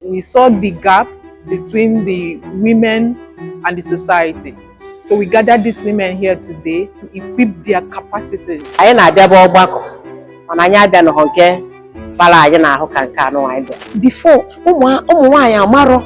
We saw the gap between the women and the society. So we gathered these women here today to equip their capacities. Anyị na-abịabu ọgbakọ mana anyị abịanụghọ nke bara anyị n'ahụ ka nke anụ anyị bịa. Before ụmụ nwaanyị amarọ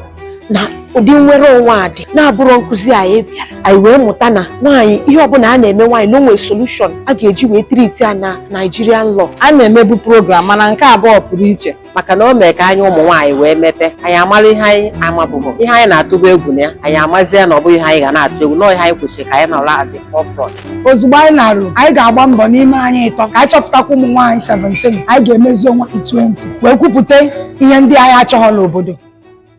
na ụdị nnwere onwe a dị na-abụrụ nkụzi anyị bịara anyị wee mụta na nwaanyị ihe ọbụla a na-eme nwaanyị na o nwe solution a ga-eji wee treat ya na Nigerian law. A na-emebu program mana nke a bụ ọpụrụ iche. maka na o mee ka anyị ụmụ nwaanyị wee mepee anya mara ihe anyị amabughị ihe anyị na-atụbu egwu na ya anyị amazie na ọ bụghị ihe anyị ga na-atụ egwu na ọ ihe anyị kwesịrị ka anyị nọrọ at the forefront ozugbo anyị naruo anyị ga-agba mbọ n'ime anyị ịtọ ka anyị chọpụtakwa ụmụ nwaanyị 17 anyị ga-emezi onwe anyị 20 wee kwupụta ihe ndị anyị achọghọ n'obodo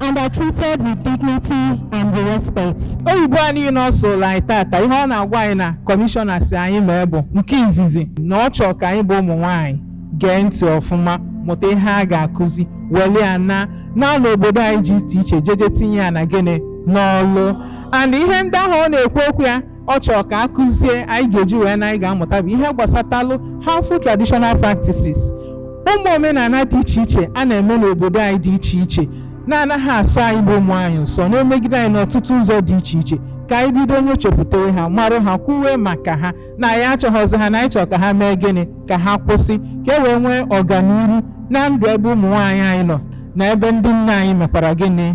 and are treated with dignity and respect. oyibo a niile ọ sụụrụ anyị tata ihe ọ na-agwa anyị na kọmishọna sị anyị mee bụ nke izizi na ọ chọrọ ka anyị bụ ụmụ nwaanyị gee ntị ọfụma mụta ihe a ga-akụzi weli ya naa naa n'obodo anyị dị iche iche jeje tinye ya na gịnị n'ọlụ and ihe ndị ahụ ọ na-ekwu okwu ya ọ chọrọ ka a kụzie anyị ga-eji wee naa anyị ga-amụta bụ ihe gbasatalụ harmful traditional practices ụmụ omenala dị iche iche a na-eme n'obodo anyị dị iche iche na-anaghị asọ anyị bụ ụmụ nwaanyị ụsọ na-emegide anyị n'ọtụtụ ụzọ dị iche iche ka anyị bido nyochapụtawe ha marụ ha kwuwe maka ha na anyị achọghọzi ha na anyị chọrọ ka ha mee gịnị ka ha kwụsị ka e wee nwee ọganihu na ndụ ebe ụmụ nwaanyị anyị nọ na ebe ndị nna anyị mekwara gịnị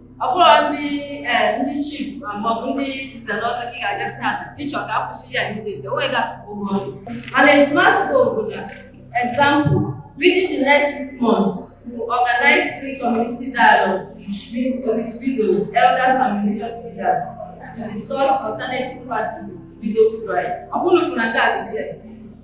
ọ bụrụ ndị eh, ndị chief ah, maọbụ ndị nze na ọzọ gị ga-aga sị ha ị chọ ka a kwụsị ya immediately onwe ga-atụpụ ụgwọ ọrụ mana a smart goal bụ na example within the next six months we organize three community dialogues between with widows elders and religious leaders to discuss alternative practices to widowhood rites ọ bụrụ na nke a dị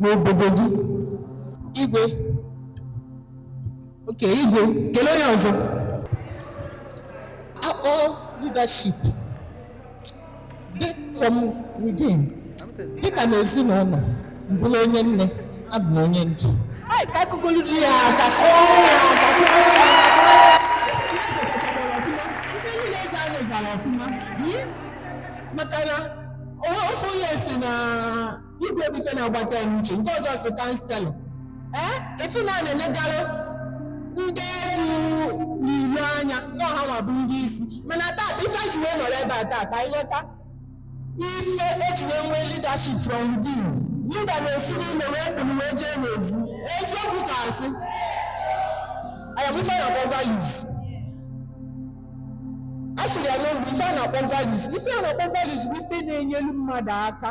n'obodo gị igwe okay igwe kee onye ọzọ a kpọ leadership dị from within dịka na ezinụlọ m bụrụ onye nne abụ m onye ndu Ai, ka a kụọlu di ya aka kụọ ya aka kụọ ya aka kụọ ya ndị niile eze ahụ zara ọfụma maka na ofu onye sị na igwe bụ ife na-agbata ya n'uche nke ọzọ sị councillor ee ị fụ na a na-enegarụ ndị na-edu n'ilu anya na ọ ha nwa bụ ndị isi mana taa ife e ji wee nọrọ ebe a taa ka anyị ghọta ife e ji wee nwee leadership from within leader na-esi n'ụlọ wee pụrụ wee jee n'ezi eziokwu ka asị ọ ya bụ ife a na-akpọ values a sịrị ya na ọ bụ ife a na-akpọ values ife a na-akpọ values bụ ife na-enyelu mmadụ aka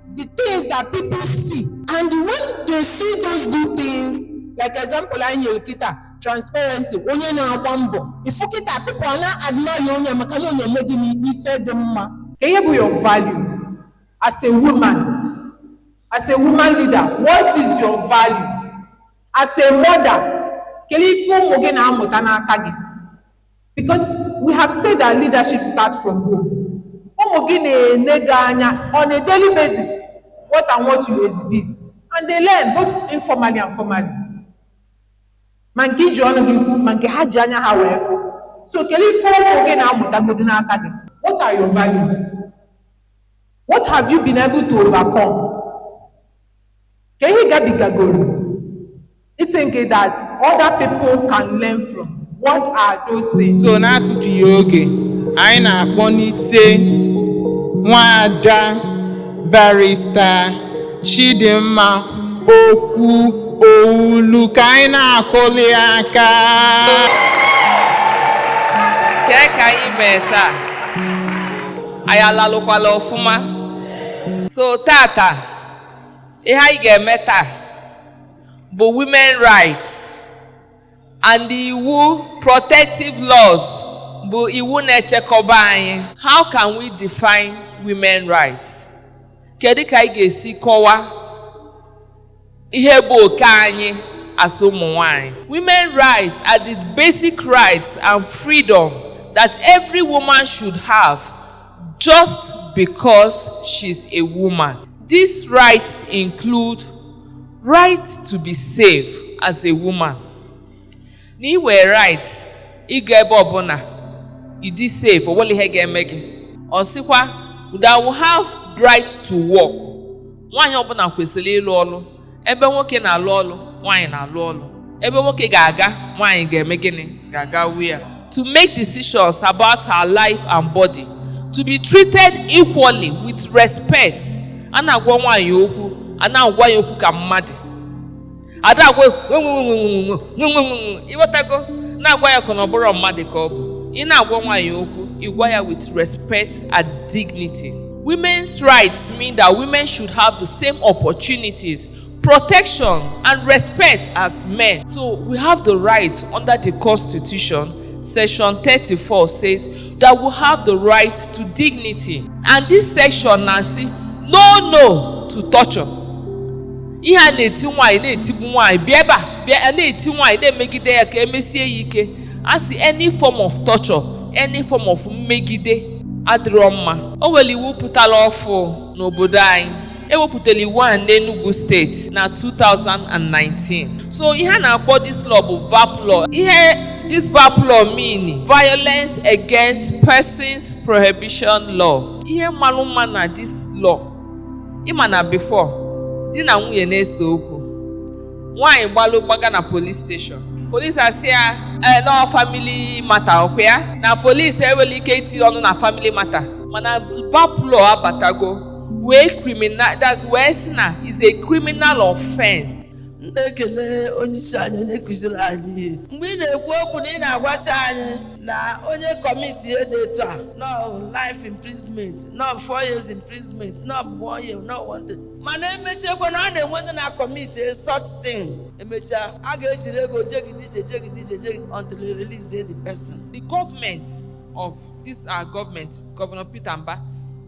the things that people see and when they see those good things like example anyị nyere kịta transparency onye na-agba mbọ ị fụ kịta people a na-admire onye maka na onye eme gịnị ife dị mma Kee ihe bụ your value as a woman, as a woman leader, what is your value? As a mother, kelee ife ụmụ gị na-amụta n'aka gị. Because we have said that leadership starts from home. Ụmụ gị na-ele gị anya on a daily basis what and what you exhibit and they learn both informally and formally. Ma nke i ji ọnụ gị kwu ma nke ha ji anya ha wee fụ. So kelee ife ụmụ gị na-amụtagodu n'aka gị. What are your values? What have you been able to overcome? Kee ihe ị gabigagoro, you think that other people can learn from what are those things? so n'atụfughị oge anyị na-akpọnite nwaada barista chidimma okwuowulu ka anyị na-akụli aka kee ka anyị mee taa anyị alalụkwala ọfụma so tata ihe anyị ga-eme taa bụ women rights and iwu protective laws bụ iwu na-echekọba anyị how can we define women rights kedu ka anyị ga-esi kọwaa ihe bụ oke anyị as ụmụ nwaanyị women rights are the basic rights and freedom that every woman should have just because she's a woman. These rights include right to be safe as a woman. Na i nwere right ịga ebe ọbụla ịdị safe o nwerọ ihe ga-eme gị. Ọ sịkwa that we have right to work. nwaanyị ọbụla kwesịrị ịlụ ọlụ ebe nwoke na-alụ ọlụ nwaanyị na-alụ ọlụ ebe nwoke ga-aga nwaanyị ga-eme gịnị ga-aga we are to make decisions about her life and body to be treated equally with respect a na-agwa nwaanyị okwu a na-agwa ya okwu ka mmadụ a da-agwa ị ghọtago na-agwa ya ka na ọ bụrọ mmadụ ka ọ bụ ị na-agwa nwaanyị okwu ị gwa ya with respect and dignity women's rights mean that women should have the same opportunities protection and respect as men so we have the rights under the constitution section 34 says that we have the right to dignity and this section na-asị no no to torture ihe a na-eti nwaanyị na-etigbu nwaanyị bịa ebe a bịa a na-eti nwaanyị na-emegide ya ka e mesie ya ike a sị any form of torture any form of mmegide adịrọ mma o nwere iwu pụtara ọfụụ n'obodo anyị ewepụtara iwu a n'Enugu steeti na 2019 so ihe a na-akpọ this law bụ VAP law ihe this VAP law mean violence against persons prohibition law ihe malụ mma na this law ịma na before di na nwunye na-ese okwu nwaanyị gbalụ gbaga na police station police asị ya ee na ọ family matter ọkwa ya na police enwerọ ike iti ọnụ na family matter mana VAP law abatago wee criminal that's wee sị na is a criminal offense m na-ekele onye isi anyị onye kụziri anyị ihe mgbe ị na-ekwu okwu na ị na-agwacha anyị na onye commit ihe dị etu a na ọ life imprisonment na ọ four years imprisonment na ọ one year na ọ one day mana emechakwa na a na-enwe ndị na-acommit such thing emechaa a ga-ejiri ego jegide ije jegide ije jegide until they release the person the government of this our government governor peter mbah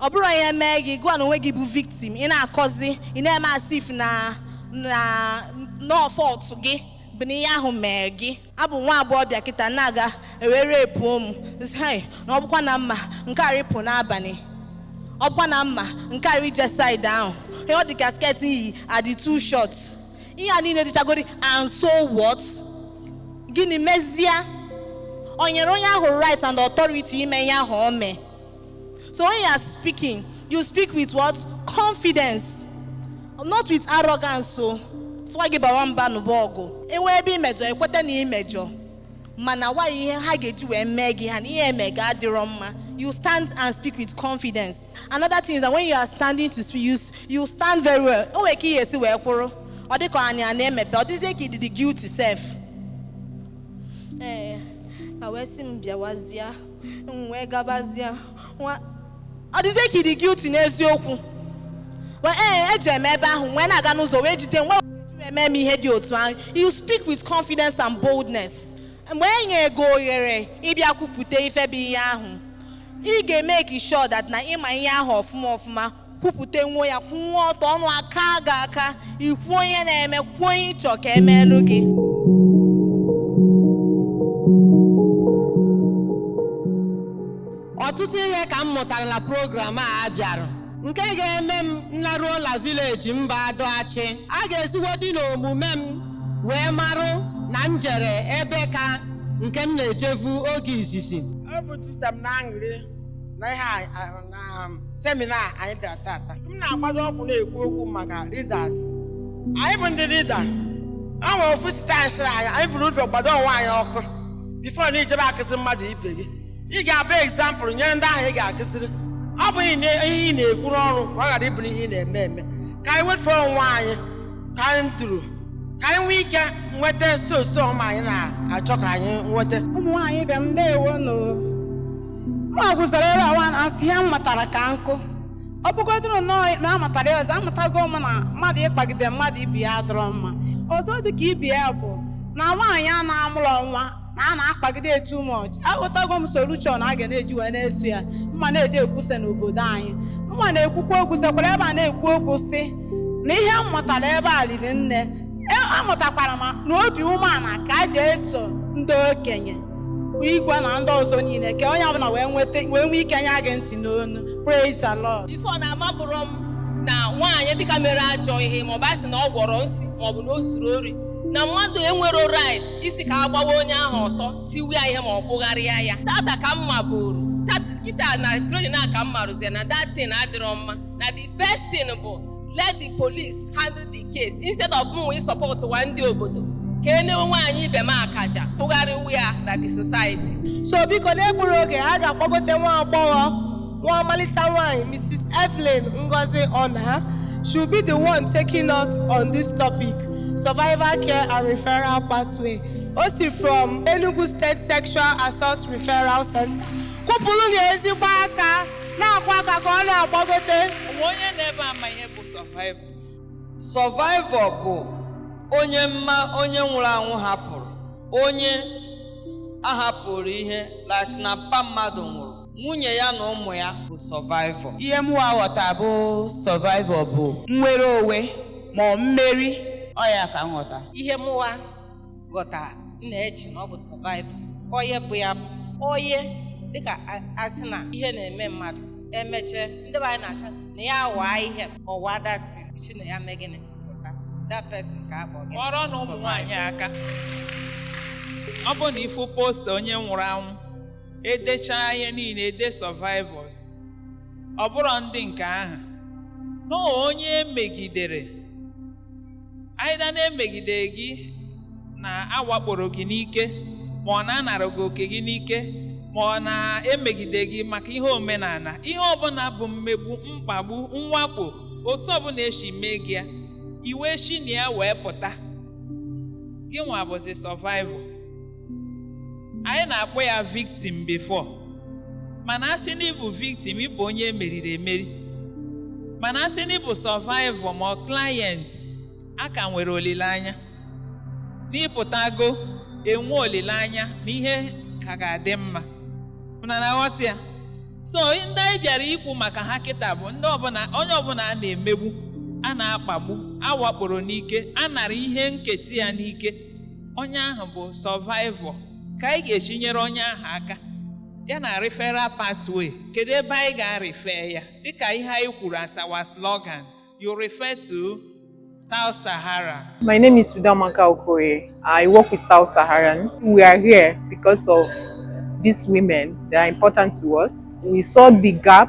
ọ bụrụ na ihe emee gị gị nwa onwe gị bụ victim ị na-akọzi ị na-eme as if na na na ọ fault gị bụ na ihe ahụ mee gị abụ m nwa agbọghọbịa kịta na-aga e wee rapeuo m hai na ọbụkwa na mma nke a rịpụ n'abanị ọbụkwa na mma nke a rije side ahụ ihe ọ dị ka skirt i yi adị too short ihe a niile dịchagodi and so what gịnị mezia o nyere onye ahụ right and authority ime ihe ahụ o mee So when you are speaking, you speak with what? Confidence. Not with arrogance. So, so gị bawa mba na-ebu ọgụ. E nwee ebe i mejọ, i kweta na i mejọ. Mana why ihe ha ga-eji wee mee gị ihe a na ihe emee gị adịrọ mma. You stand and speak with confidence. Another thing is that when you are standing to speak, you, you stand very well. O nwere ka ị ya-esi wee kwụrụ. Ọ dịka anya na-emepe, ọ dịzie ka ị dị guilty sef. Ee, a wee sị m bịawazie. m wee gabazia ọdịzie ka ị dị guilty n'eziokwu Well, ee eji m ebe ahụ wee na-aga n'ụzọ wee jide m e wee mee m ihe dị otu ahụ you speak with confidence and boldness mgbe e nye gị ohere ịbịa kwupụta ife bụ ihe ahụ ị ga-emake sure that na ị ma ihe ahụ ọfụma ọfụma kwupụtanwuo ya kwụwa ọtọ ọnụ akaa gị aka i kwuo ihe na-eme kwuo ihe ị chọ ka emeelu gị ọtụtụ ihe ka m mụtara na program a a bịara nke ga-eme m nlaruo la village m bụ Adu Achi a ga-esigodi n'omume m wee marụ na m jere ebe ka nke m na-ejevu oge izizi Ọ bụ tuta m na aṅụrị na ihe a- a- na semina a anyị bịara tata m na-agbado ọkụ na-ekwu okwu maka leaders anyị bụ ndị lida a nwere ofu sista anyị sịrị anyị anyị vuru ụzọ gbado onwe anyị ọkụ bifo na i jebe akụziri mmadụ ibe gị ị ga-abụ egzampụl nyere ndị ahụ ị ga-akụziri ọ bụ ihe ị na- ihe ị na-ekwu n'ọnụ ka ọ ghara ịbụ ihe ị na-eme eme ka anyị wetuo onwe anyị ka anyị duru ka anyị nwee ike nweta nso nso ọma anyị na-achọ ka anyị nweta ụmụ nwaanyị ibe m ndewonụ mụ agwụzara ebe awa na-asị ihe m matara ka nkụ ọ bụgodoro na m amatara ihe ọzọ amatago m na mmadụ ịkpagide mmadụ ibe ya adịrọ mma ọzọ dị ka ibe ya bụ na nwaanyị a na-amụrọ nwa na a na-akpagide ya too much aghọtago m solution a ga na-eji wee na-eso ya m ma na-eji ekwusa n'obodo anyị m ma na-ekwukwa okwu sekwara ebe a na-ekwu okwu sị na ihe m mụtara ebe a riri nne E- amụtakwara m na obi umeala ka a ji eso ndị okenye igwe na ndị ọzọ niile ka onye ọbụla wee nweta wee nwee ike nya gị ntị n'ọnụ praise the lord bifo na amaburọ m na nwaanyị dịka mere ajọ ihe maọbụ a sị na ọ gwọrọ nsi maọbụ na o zuru ori na mmadụ enwerọ right ịsị ka a gbawa onye ahụ ọtọ tiwe ya ihe ma ọ kpụgharịa ya tata ka m maburu Tat- kịta na training a ka m maruzi na that thing adịrọ mma na the best thing bụ let the police handle the case instead of mụwa ịsupportuwa ndị obodo ka e mewe nwaanyị ibe m akaje kpụgharịwa ya na the society so biko n'egburọ oge a ga-akpọgote nwa agbọghọ nwa ọmalịcha nwanyị Mrs. Evelyn Ngozi Ona she'll be the one taking us on this topic survivor care and referral pathway o si from Enugu State Sexual Assault Referral Center kụpụrụnụ ya ezigbo aka na-akụ ya aka ka ọ na-agbagote O nwe onye nọ ebe a ma ihe bụ survival. Survivor bụ onye mma onye nwụrụ anwụ hapụrụ onye a hapụrụ ihe like na mpa mmadụ nwụrụ nwunye ya na ụmụ ya bụ sọvaịvọ ihe mụwa ghọta bụ sọvaịvọ bụ nnwere onwe ma ọ mmeri ọ ya ka m ghọta ihe mụwa ghọta m na-eche na ọ bụ sọvaịvọ onye bụ ya bụ onye dịka a- a sị na ihe na-eme mmadụ e mechaa ndị be anyị na-ashị na ya waa ihe ọwa that is shi na ya mee gịnị pụta that person ka a kpọ gị kụọrọnụ ụmụ nwaanyị aka ọ bụ na ị fụ posta onye nwụrụ anwụ e dechaa ihe niile e dee survivors ọ bụrọ ndị nke ahụ na ọ onye e megidere aịda na e megide gị na a wakporo gị n'ike ma ọ na a nara gị oke gị n'ike ma ọ na e megide gị maka ihe omenala ihe ọbụla bụ mmegbu mkpagbu mwakpo otu ọbụla e si mee gị ya i wee shi na ya wee pụta gịnwa bụzi survivor anyị na-akpọ ya victim before mana asị na ịbụ victim ịbụ onye e meriri emeri mana asị na ịbụ survivor ma ọ client a ka nwere olileanya n'ịpụtago enwe olileanya na ihe ka ga-adị mma unu na-aghọta ya so ndị anyị bịara ikwu maka ha kịta bụ onye ọbụla a na-emegbu a na-akpagbu a wakporo n'ike a nara ihe nketa ya n'ike onye ahụ bụ survivor ka anyị ga-esi nyere onye ahụ aka ya na referral pathway kedu ebe anyị ga-arefer ya dịka ihe anyị kwuru as our slogan you refer to South Sahara My name is Udoamaka Okoye. I work with South Saharan. We are here because of these women. They are important to us. We saw the gap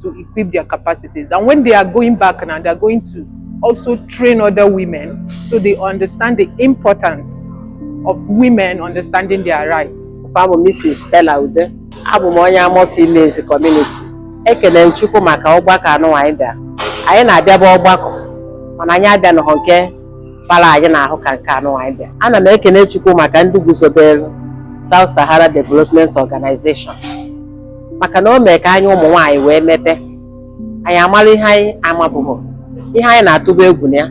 to equip their capacities. And when they are going back now, they are going to also train other women so they understand the importance of women understanding their rights. Afa m bụ Mrs. Stella Ude, abụ m onye Amọ Females Community. Ekene m Chukwu maka ọgbakọ a nwa anyị bịa. Anyị na-abịabu ọgbakọ mana anyị abịanọhọ nke kpara anyị n'ahụ ka nke a nwa anyị bịa. Ana m ekene Chukwu maka ndị guzobere South Sahara Development Organization. maka na o mee ka anyị ụmụ nwaanyị wee mepee anya mara ihe anyị amabughị ihe anyị na-atụbu egwu na ya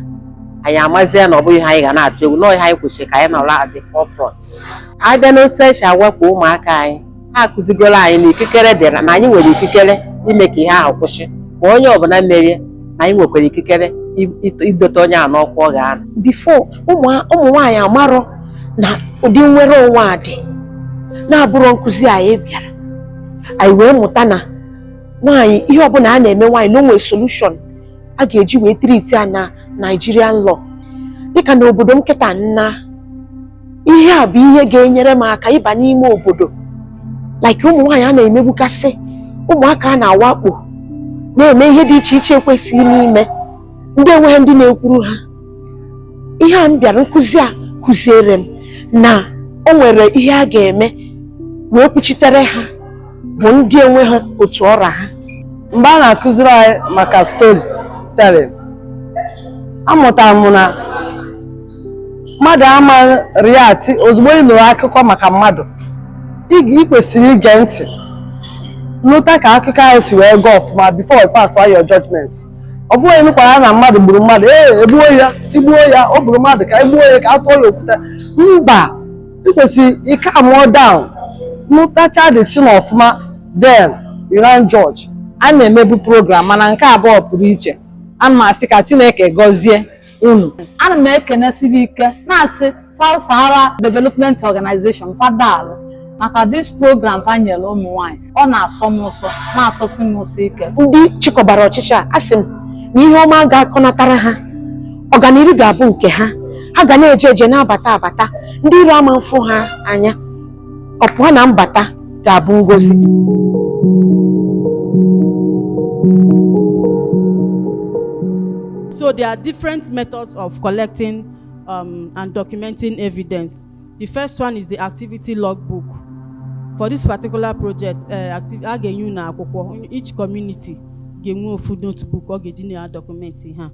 anyị amazie na ọ bụghị ihe anyị ga na-atụ egwu na ọ ihe anyị kwesịrị ka anyị nọrọ at the forefront a bịa n'otu e si awakpo ụmụaka anyị ha akụzigoro anyị na ikikere dịrị na anyị nwere ikikere ime ka ihe ahụ kwụsị ma onye ọbụla mere ya na anyị nwekwara ikikere idote onye a n'ọkwa ọ ga-anọ before ụmụ nwaanyị amarọ na ụdị nnwere onwe a dị na-abụrọ nkụzi anyị bịara anyị wee mụta na nwaanyị ihe ọbụla a na-eme nwaanyị na o nwe solution a ga-eji wee treat ya na Nigerian law dịka na obodo m kịta nna ihe a bụ ihe ga-enyere m aka ịba n'ime obodo like ụmụ nwaanyị a na-emegbukasị ụmụaka a na-awakpo na-eme ihe dị iche iche ekwesịghị n'ime ndị enweghị ndị na-ekwuru ha ihe a m bịara nkụzi a kụziere m na o nwere ihe a ga-eme wee kwuchitere ha bụ ndị enweghị otu ọ ra ha mgbe a na-akụziri anyị maka storytelling amụtara m na mmadụ ama react ozugbo ị nụrụ akụkọ maka mmadụ ị kwesịrị ige ntị nụta ka akụkọ ahụ si wee gaa ọfụma before you pass your judgment ọ bụghị ị nụkwara na mmadụ gburu mmadụ ee egbuo ya tigbuo ya o gburu mmadụ ka e gbuo ya ka a tụọ ya okwute mba ị kwesịrị ịcalmụọ down nụtacha the thing ọfụma then you can judge a na-emebu program mana nke a bụ ọpụrụ iche ana m asị ka Chineke gọzie unu ana m ekenesi ha ike na-asị South Sahara Development Organization fa daalụ maka this program fa nyere ụmụ nwanyị ọ na-asọ m ụsọ na-asọsi m ụsọ ike ndị chịkọbara ọchịchị a asị m na ihe ọma ga-akọnatara ha ọganihu ga-abụ nke ha ha ga na-eje eje na-abata abata ndị iro ama mfụ ha anya ọpụọ na mbata ga-abụ ngozi So there are different methods of collecting um, and documenting evidence. The first one is the activity logbook. For this particular project, uh, active, a ga-enye unu akwụkwọ each community ga-enwe ofu notebook ọ ga-eji na-document ihe a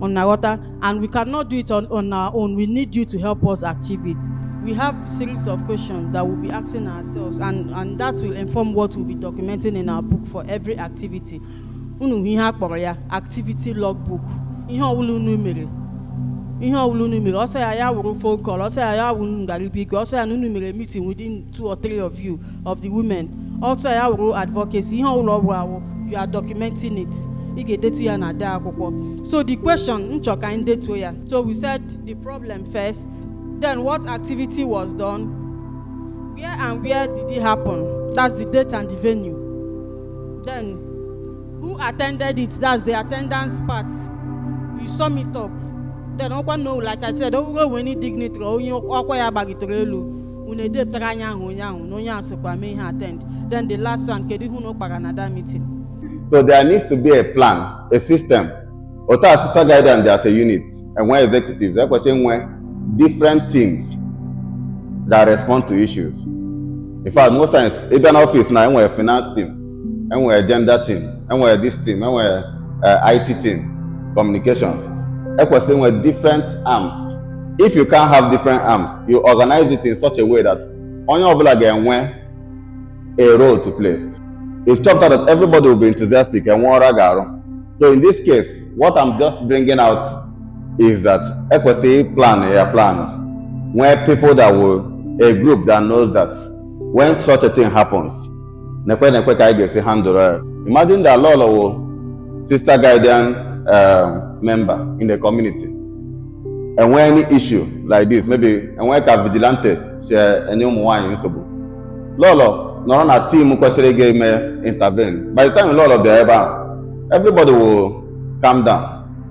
on our water and we cannot do it on, on our own. We need you to help us achieve it. We have series of questions that we'll be asking ourselves and, and that will inform what we'll be documenting in our book for every activity. Unu ihe a kpọrọ ya activity logbook. Ihe ọbụla unu mere ihe ọbụla unu mere ọ sọ ya ya wụrụ phone call ọ sọ ya ya wụrụ unu gara be igwe ọ sọ ya na unu mere meeting within two or three of you of the women ọ sọ ya wụrụ advocacy ihe ọbụla ọ wụ you are documenting it ị ga-edetu ya na the akwụkwọ so the question m chọ ka anyị detuo ya so we said the problem first then what activity was done when and where did it happen that's the date and the venue then who attended it that's the attendance part you sum it up then ọ wụrụ na like i said o nwere any dignitary onye ọkwa ya gbagotere elu unu edepụtara anyị aha onye ahụ na onye a sokwa mee ihe attend then the last one kedu ihe unu kpara na that meeting so there needs to be a plan a system otu a sister guardians dị as a unit enwe executives ekwesịrị inwe different teams that respond to issues in fact most times ị bịa n'office now enwere finance team enwere gender team enwere this team enwere eh, IT team communications ekwesịrị inwe different arms if you can't have different arms you organize it in such a way that onye ọbụla ga-enwe a role to play ị chọpụta that everybody will be enthusiastic enwe ọrụ a ga-arụ so in this case what I'm just bringing out is that ekwesịrị ịplan ya plan nwee people that will a group that knows that when such a thing happens nekwe nekwe ka anyị ga-esi handle ya imagine that lọlọ wụ sister guardian um, member in the community enwe any issue like this maybe enwe ka vigilante si enye ụmụ nwaanyị nsogbu lọlọ nọrọ na team kwesịrị ịga ime intervene by the time lọlọ bịara ebe ahụ everybody will calm down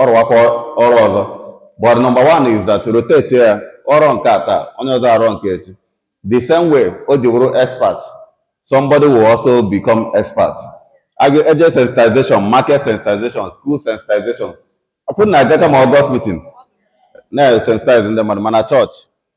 ọ rụwakwa ọrụ ọzọ but number one is that rotate ya ọ rụọ nke a taa onye ọzọ arụọ nke echi the same way o ji wụrụ expert somebody will also become expert a ga-eje sensitization market sensitization school sensitization ọpụ na agacha ma August meeting na-sensitize ndị mmadụ ma na chọọchị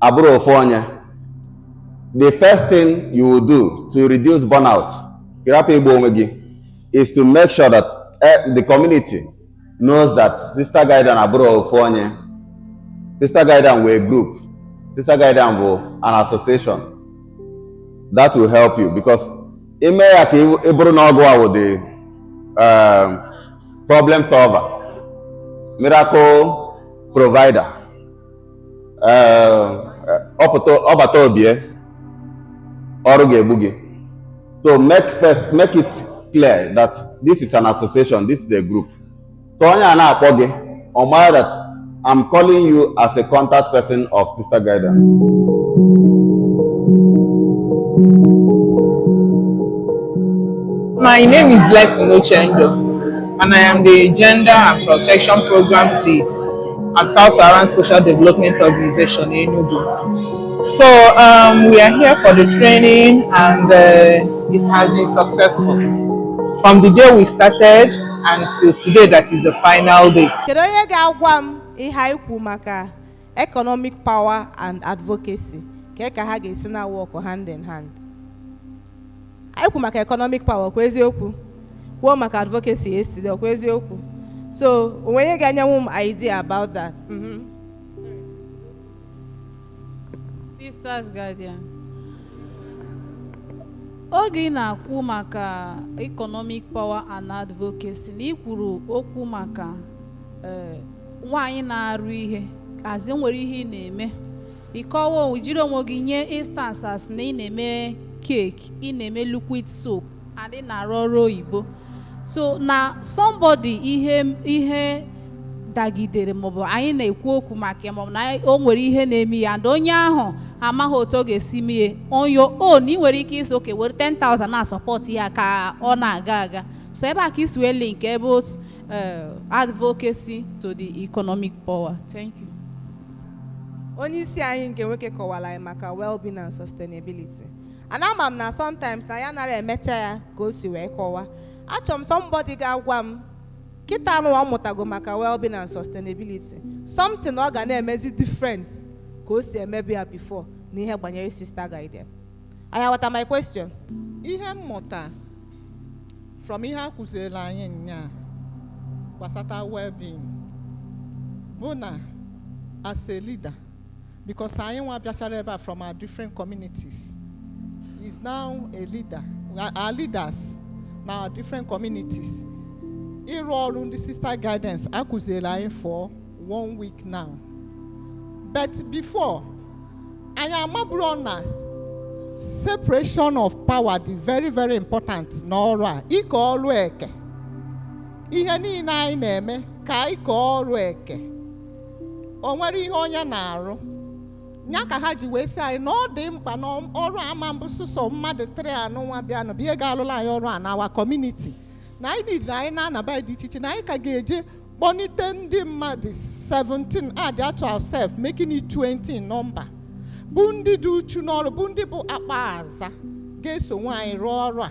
abụrọ ofu onye the first thing you will do to reduce burnout ịrapụ igbu onwe gị is to make sure that eh, the community knows that sister guardian abụrọ ofu onye sister guardian wụ a group sister guardian wụ an association that will help you because i mee ya ka ị bụrụ na ọ gụwa wụ the um, problem solver miracle provider ọbata obie ọrụ ga-egbu gị so make first make it clear that this is an association this is a group so onye a na-akpọ gị ọ mara that I'm calling you as a contact person of Sister Guidance. My name is Lex Nochendo, and I am the Gender and Protection Programs Lead at South Saharan Social Development Organization Enugu. So um, we are here for the training and uh, it has been successful. From the day we started and till today that is the final day. Kedu onye ga-agwa m ihe anyị kwu maka economic power and advocacy ka ka ha ga-esi na work hand in hand? anyị kwu maka economic power kwa eziokwu kwuo maka advocacy yesterday kwa eziokwu so o nwere onye ga-enyenwu m idea about that Mhm. Sisters Guardian. Oge ị na-akwu maka economic power and advocacy na ị kwuru okwu maka eh, nwaanyị na-arụ ihe as in nwere ihe ị na-eme Ịkọwa i jiri onwe gị nye instances na ị na-eme cake, ị na-eme liquid soap and ị na-arụ ọrụ oyibo. So na somebody ihe dagidere maọbụ anyị na-ekwu okwu maka ya maọbụ na o nwere ihe na-eme ya and onye ahụ amaghị otu ọ ga-esi mee on your own ị nwere ike ịsị okay were 10,000 na support ya ka ọ na-aga aga so ebe a ka i si wee linkie both eh, advocacy to the economic power thank you onye isi anyị nke nwoke kọwara anyị maka well-being and sustainability and ama m na sometimes na anyị anara emecha ya ka o si wee kọwa achọrọ m somebody ga-agwa m kịtaa nụ ọ mụtago maka well-being and sustainability something ọ ga na-emezi different ka o si emebu ya before n'ihe gbanyere sister guardian Ị aghọta my question ihe m mụta from ihe a kụziere anyị nyaa gbasata well-being bụ na as a leader because anyị nwa bịachara ebe a from our different communities is now a leader are leaders na our different communities ịrụ ọrụ ndị sister guardians a kụziere anyị for one week now but before anyị amaburọ na separation of power dị very very important n'ọrụ a ike ọrụ eke ihe niile anyị na-eme ka anyị kee ọrụ eke o nwere ihe onye na-arụ ya ka ha ji wee sị anyị na ọ dị mkpa na ọrụ ama-abụ sọsọ mmadụ three a nụnwa bịanụ bụ ihe ga-alụla anyị ọrụ a na our community na anyị needịrị anyị na-anaba ndị iche iche na anyị ka ga-eje kpọnite ndị mmadụ 17 add to ourself making it 20 nọmba bụ ndị dị uchu n'ọrụ bụ ndị bụ akpa aza ga-eso nwaanyị rụọ ọrụ a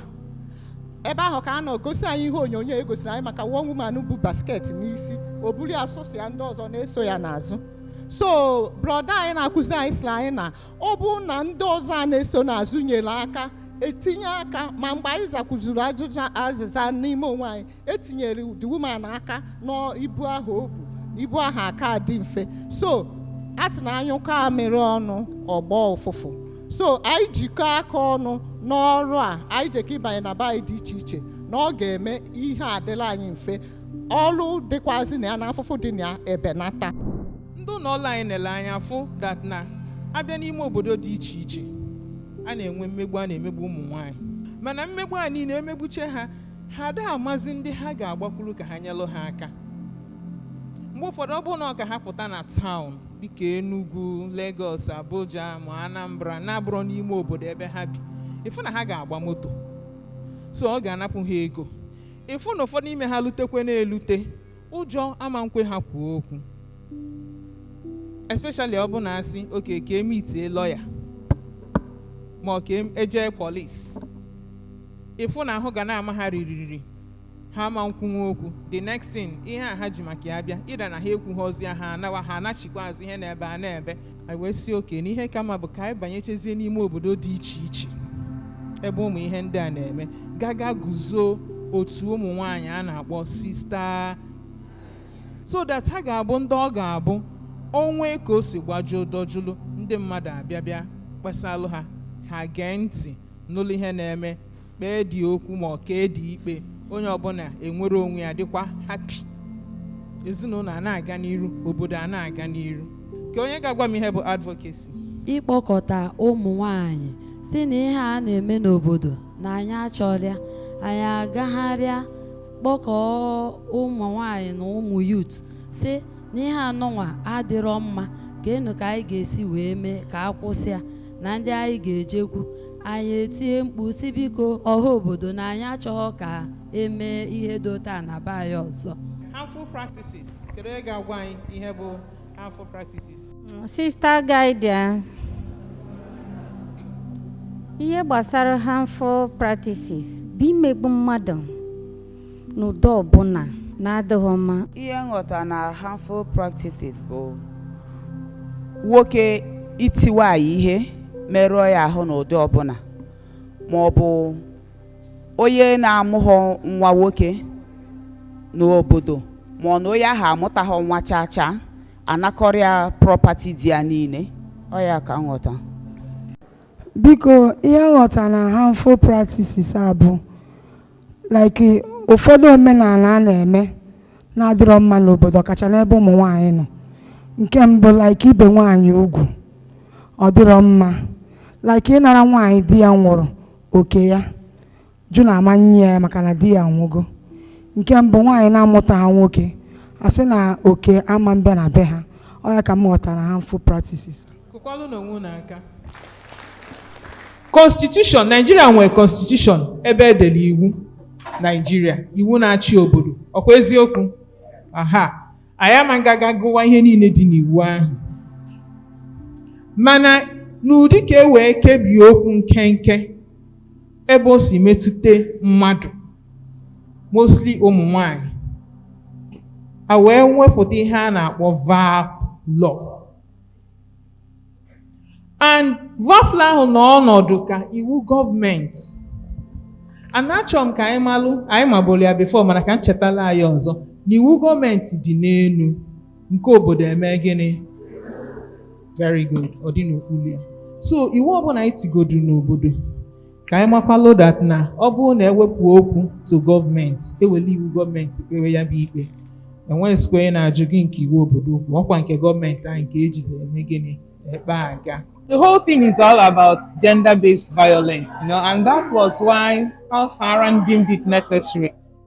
ebe ahụ ka a nọ gosi anyị ihe onyonyo e gosiri anyị maka one woman bu basket n'isi o buru ya sọsọ ya ndị ọzọ na-eso ya n'azụ so brọda anyị na-akụziri anyị sịrị anyị na ọ bụ na ndị ọzọ a na-eso n'azụ nyere aka etinye aka ma mgbe anyị zakwuzuru azịza n'ime onwe anyị etinyere the woman aka n'ibu ahụ o bu ibu ahụ aka adị mfe so a sị na a nyụkọọ amịrị ọnụ ọ gbọọ ụfụfụ so anyị jikọ aka ọnụ n'ọrụ a anyị jekọ ịbanye na be anyị dị iche iche na ọ ga-eme ihe adịla anyị mfe ọrụ dịkwazị na ya na afụfụ dị na ya ebenata ndị ụlọ ọrụ anyị nele anya fụ dat na a bịa n'ime obodo dị iche iche a na-enwe mmegbu a na-emegbu ụmụ nwaanyị mana mmegbu a niile emegbuche ha ha ada amazi ndị ha ga-agbakwuru ka ha nyelụ ha aka mgbe ụfọdụ ọ bụrụ na ọ ka ha pụta na taụn dịka Enugu Lagos Abuja ma Anambra na-abụrọ n'ime obodo ebe ha bi ị fụ na ha ga-agba moto so ọ ga-anapụ ha ego ị fụ na ụfọdụ ime ha lutekwe na-elute ụjọ ama nkwe ha kwuo okwu especially ọ bụ na a sị oke ka e mitie lọya ma ọ ka e jee polis ị fụ na ahụ ga na-ama ha ririri ha ama nkwunwe okwu the next thing ihe a ha ji maka ya bịa ịda na ha ekwughịzi ya ha anawa ha anachikwa azụ ihe na-ebe a na-ebe anyị wee sị oke na ihe ka mma bụ ka anyị banyechezie n'ime obodo dị iche iche ebe ụmụ ihe ndị a na-eme gaa ga guzoo otu ụmụ nwanyị a na-akpọ sista so that ha ga-abụ ndị ọ ga-abụ o nwee ka o si gbajuo dojulu ndị mmadụ abịa bịa kpesalụ ha ha gee ntị nụlụ ihe na-eme kpee dị okwu ma ọ kee dị ikpe onye ọbụla enwere onwe ya dịkwa hapi ezinụlọ a na-aga n'iru obodo a na-aga n'iru kee onye ga-agwa m ihe bụ advocacy ịkpọkọta ụmụ nwanyị sị na ihe a na-eme n'obodo na anyị achọrọ ya anyị agagharịa kpọkọọ ụmụ nwanyị na ụmụ yut sị na ihe anụnwa adịrọ mma kee nụ ka anyị ga-esi wee mee ka a kwụsị ya na ndị anyị ga-ejekwu anyị etie mkpu sị biko ọha obodo na anyị achọghọ ka e mee ihe dị otu a na be anyị ọzọ harmful practices kedu onye ga-agwa anyị ihe bụ harmful practices Sista Guardian, ihe gbasara harmful practices bụ imegbu mmadụ n'ụdị ọbụla na-adịghị mma. Ihe m ghọta na harmful practices bụ nwoke iti nwaanyị ihe merụọ ya ahụ n'ụdị ọbụla ma ọ bụ onye na-amụghọ nwa nwoke n'obodo ma ọ na onye ahụ amụtaghọ nwa chaa chaa anakọrịa prọpati di ya niile ọ ya ka m ghọta Biko ihe m ghọta na harmful practices a bụ like ụfọdụ omenala a na-eme na-adịrọ mma n'obodo ọkacha n'ebe ụmụ nwaanyị nọ nke mbụ like ibe nwaanyị ugwu ọ dịrọ mma like ịnara nwaanyị di ya nwụrụ oke ya jụ na ama nye ya maka na di ya nwụgo nke mbụ nwaanyị na-amụtaghọ nwoke asị na oke ama bịa na be ha ọ ya ka m ghọtara harmful practices kụkwalụnụ onwe unu aka constitution naijiria nwere constitution ebe edere iwu naijiria iwu na-achị obodo ọkwa eziokwu aha anyị ama aga ga gụwa ihe niile dị n'iwu ahụ mana n'ụdị ka e wee kebie okwu nkenke ebe o si metụta mmadụ mostly ụmụ nwanyị a wee wepụta ihe a na-akpọ VAPP law and VAPP law ahụ nọ ọnọdụ ka iwu gọọmenti and achọrọ m ka anyị malụ anyị maburu ya before mana ka m chetala anyị ọzọ na iwu gọọmenti dị n'elu nke obodo eme gịnị very good ọ dị n'okpuru ya so iwu ọbụla anyị tigodu n'obodo ka anyị makwalụ that na ọ bụrụ na ewepụ okwu to gọọmenti ewele iwu gọọmenti kpewe ya bụ ikpe enweghịzikwa onye na-ajụ gị nke iwu obodo okwu ọkwa nke gọọmenti anyị nke ejizi eme gịnị ekpe aga the whole thing is all about gender-based violence, you know, and that was why South Saharan deemed it necessary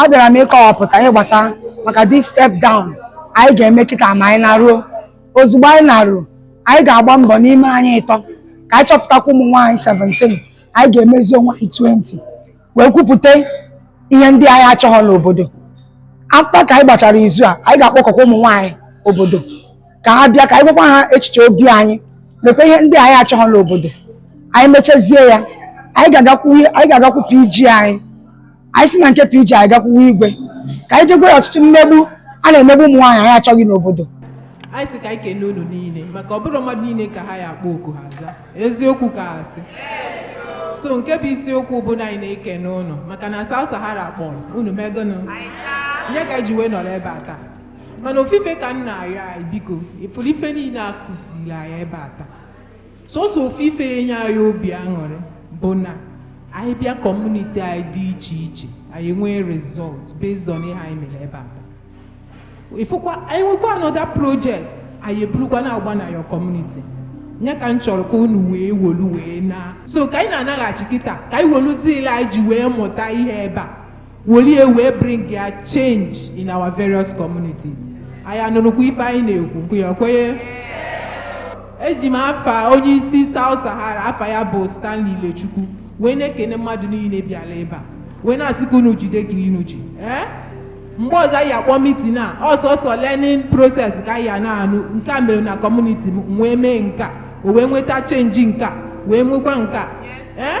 abịara m ịkọwapụta ihe gbasara maka the step down anyị ga-eme kịta ma anyị naruo ozugbo anyị naruo anyị ga-agba mbọ n'ime anyị ịtọ ka anyị chọpụtakwa ụmụ nwaanyị 17 anyị ga-emezi onwe anyị 20 wee kwupụta ihe ndị anyị achọghọ n'obodo after ka anyị gbachara izu a anyị ga-akpọkọkwa ụmụ nwaanyị obodo ka ha bịa ka anyị gwakwa ha echiche obi anyị mekwa ihe ndị anyị achọghọ n'obodo anyị mechazie ya anyị ga-agakwu PG anyị anyị si na nke PG anyị gakwuwe igwe ka anyị je gwa ọtụtụ mmegbu a na-emegbu ụmụ nwaanyị anyị achọghị n'obodo anyị sị ka anyị kene unu niile maka ọ bụrọ mmadụ niile ka a ya-akpọ oku ha zaa eziokwu ka asị so nke bụ isiokwu bụ na anyị na-ekene unu maka na South Sahara kpọrọ unu megonụ nye ka ji wee nọrọ ebe a taa mana ofu ife ka m na-arịọ anyị biko ị fụrụ ife niile akụziri anyị ebe a taa sọsọ ofu ife ya enye anyị obi aṅụrị bụ na anyị bịa kọmuniti anyị dị iche iche anyị nwee result based on ihe anyị mere ebe a ị fụkwa anyị nwekwa another project anyị eburukwa na-agba na your community nya ka m chọrọ ka unu wee wolu wee naa so ka anyị na-anaghachi kịta ka anyị wolu zeal anyị ji wee mụta ihe ebe a wolie wee bring ya change in our various communities anyị anụrụkwa ife anyị na-ekwu ya kwenye eji m afa onye isi South Sahara afa ya bụ Stanley Ilechukwu wee na-ekene mmadụ niine bịalụ ebe a wee na-asị ka unu jide ka unu ji ee mgbe ọzọ anyị akpọ mitin a ọ sọsọ learning process ka anyị na-anụ nke a mere na kọmuniti m wee mee nke a o wee nweta chenji nke a wee nwekwa nke a ee